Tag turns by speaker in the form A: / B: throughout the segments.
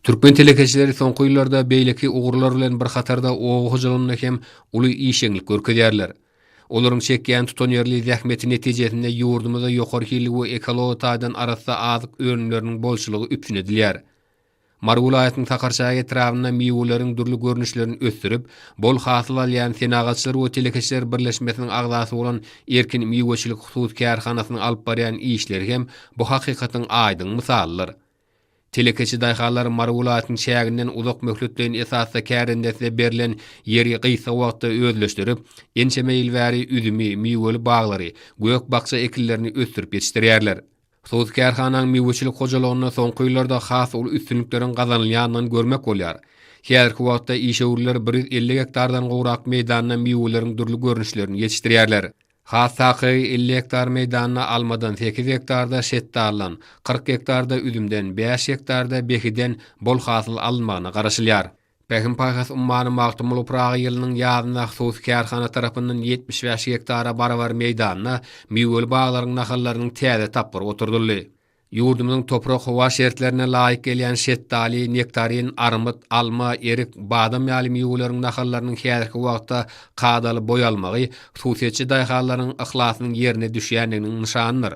A: Türkmen telekeçileri soňky ýyllarda beýleki ugurlar bilen bir hatarda oba hojalygynda hem uly işjeňlik görkezýärler. Olaryň çekýän tutanýerli zähmeti netijesinde ýurdumyzda ýokary hilli we ekology taýdan arassa azyk önümleriniň bolçulygy üpjün edilýär. Mary welaýatynyň Sakarçäge etrabynda miweleriň dürli görnüşlerini ösdürip, bol hasyl alýan Senagatçylar we telekeçiler birleşmesiniň agzasy bolan Erkin miweçilik hususy kärhanasynyň alyp barýan işleri hem bu hakykatyň aýdyň mysalydyr. Telekeçi daýhanlar Mary welaýatynyň çäginden uzak möhletleýin esasda kärendesine berlen ýeri gysga wagtda özleşdirip, ençeme ýyl bäri üzümi, miweli baglary, gök-bakja ekinlerini ösdürip ýetişdirýärler. Sos kärhananyň miweçilik hojalygynda soňky ýyllarda has uly üstünlikleriň gazanylýandygyny görmek bolýar. Häzirki wagtda işewürler bir ýüz elli gektardan gowrak meýdanda miweleriň dürli görnüşlerini ýetişdirýärler. Has takygy elli gektar meýdanda almadan, sekiz gektarda şetdaldan, kyrk gektarda üzümden, bäş gektarda behiden bol hasyl alynmagyna garaşylýar. Pähim-paýhas ummany Magtymguly Pyragy ýylynyň ýazynda hususy kärhana tarapyndan ýetmiş bäş gektara barabar meýdanda miweli baglaryň nahallarynyň täze tapgyry oturdyldy. Ýurdumyzyň toprak-howa şertlerine laýyk gelýän şetdaly, nektarin, armyt, alma, erik, badam ýaly miweleriň nahallarynyň häzirki wagtda kadaly boý almagy hususyýetçi daýhanlaryň yhlasynyň ýerine düşýändiginiň nyşanydyr.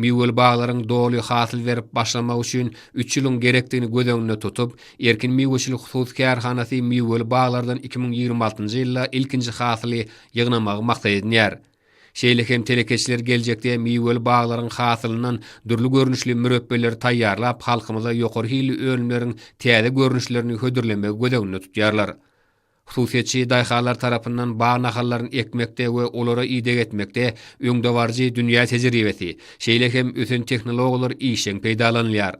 A: Miweli baglaryň doly hasyl berip başlamagy üçin üç ýylyň gerekdigini göz öňünde tutup, Erkin miweçilik hususy kärhanasy miweli baglardan iki müň ýigrimi altynjy ýylda ilkinji hasyly ýygnamagy maksat edinýär. Şeýle hem telekeçiler geljekde miweli baglaryň hasylyndan dürli görnüşli mürepbeleri taýýarlap, halkymyza ýokary hilli önümleriň täze görnüşlerini hödürlemegi göz öňünde tutýarlar. Hususyýetçi daýhanlar tarapyndan bag nahallaryny ekmekde we olara ideg etmekde öňdebaryjy dünýä tejribesi, şeýle hem ösen tehnologiýalar işjeň peýdalanylýar.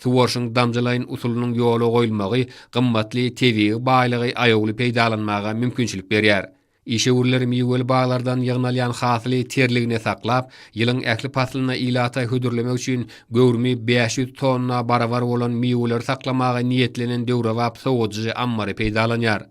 A: Suwaryşyň damjalaýyn usulynyň ýola goýulmagy gymmatly tebigy baýlygy aýawly peýdalanmaga mümkinçilik berýär. Işewürler miweli baglardan ýygnalýan hasyly terligine saklap, ýylyň ähli paslynda ilata hödürlemek üçin göwrümi bäş ýüz tonna barabar bolan miweleri saklamaga niýetlenen döwrebap sowadyjy ammary peýdalanýar.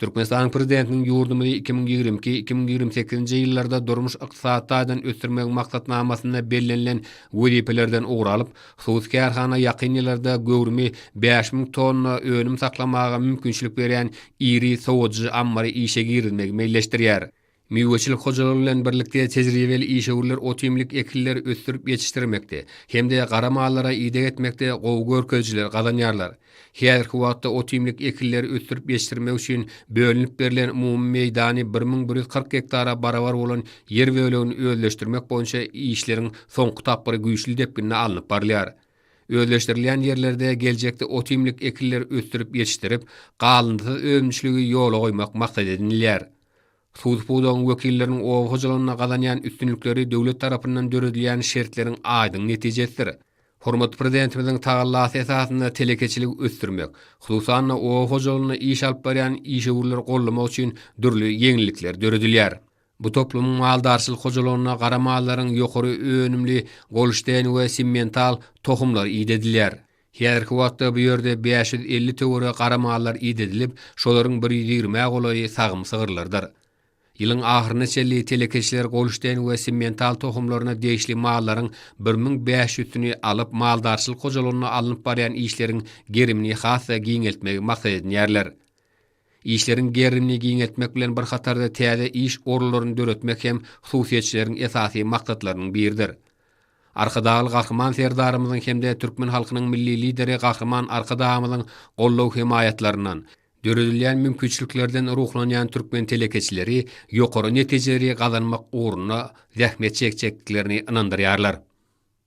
A: Türkmenistanyň Prezidentiniň ýurdumyzy iki müň ýigrimi iki, iki müň ýigrimi sekizinji ýyllarda durmuş-ykdysady taýdan ösdürmegiň maksatnamasynda bellenilen wezipelerden ugur alyp, Hususy kärhana ýakyn ýyllarda göwrümi bäş müň tonna önüm saklamaga mümkinçilik berýän iri sowadyjy ammary işe girizmegi meýilleşdirýär. Miweçilik hojalygy bilen birlikde tejribeli işewürler otimlik ekinler ösdürip ýetişdirmekde hem-de gara mallara ideg etmekde gowy görkezijiler gazanýarlar. Häzirki wagtda otimlik ekinleri ösdürip ýetişdirmek üçin bölünip berlen umumy meýdany bir müň bir ýüz kyrk gektara barabar bolan ýer bölegini özleşdirmek boýunça işleriň soňky tapgyry güýçli depginde alnyp barylýar. Özleşdirilýän ýerlerde geljekde otimlik ekinleri ösdürip ýetişdirip, galyndysyz önümçiligi ýola goýmak maksat edinilýär. Suw pudagyň wekilleriniň oba hojalygynda gazanýan üstünlikleri döwlet tarapyndan döredilýän şertleriň aýdyň netijesidir. Hormatly Prezidentimiziň tagallasy esasynda telekeçiligi ösdürmek, hususan-da, oba hojalygynda iş alyp barýan işewürleri goldamak üçin dürli ýeňillikler döredilýär. Bu toplumyň maldarçylyk hojalygynda gara mallaryň ýokary önümli golşteýn we simmental tohumlary idedilýär. Häzirki wagtda bu ýerde bäş ýüz elli töweregi gara mallar idedilip, şolaryň bir ýüz ýigrimi-ä golaýy sagym sygyrlardyr. Ýylyň ahyryna çenli telekeçiler golşteýn we simmental tohumlaryna degişli mallaryň bir müň bäş ýüzsini alyp, maldarçylyk hojalygynda alnyp barýan işleriň gerimini has-da giňeltmegi maksat edinýärler. Işleriň gerimini giňeltmek bilen bir hatarda täze iş orunlaryny döretmek hem hususyýetçileriň esasy maksatlarynyň biridir. Arkadagly Gahryman Serdarymyzyň hem-de türkmen halkynyň Milli Lideri Gahryman Arkadagymyzyň goldaw-hemaýatlaryndan, döredilýän mümkinçiliklerden ruhlanýan türkmen telekeçileri ýokary netijeleri gazanmak ugrunda zähmet çekjekdiklerini ynandyrýarlar.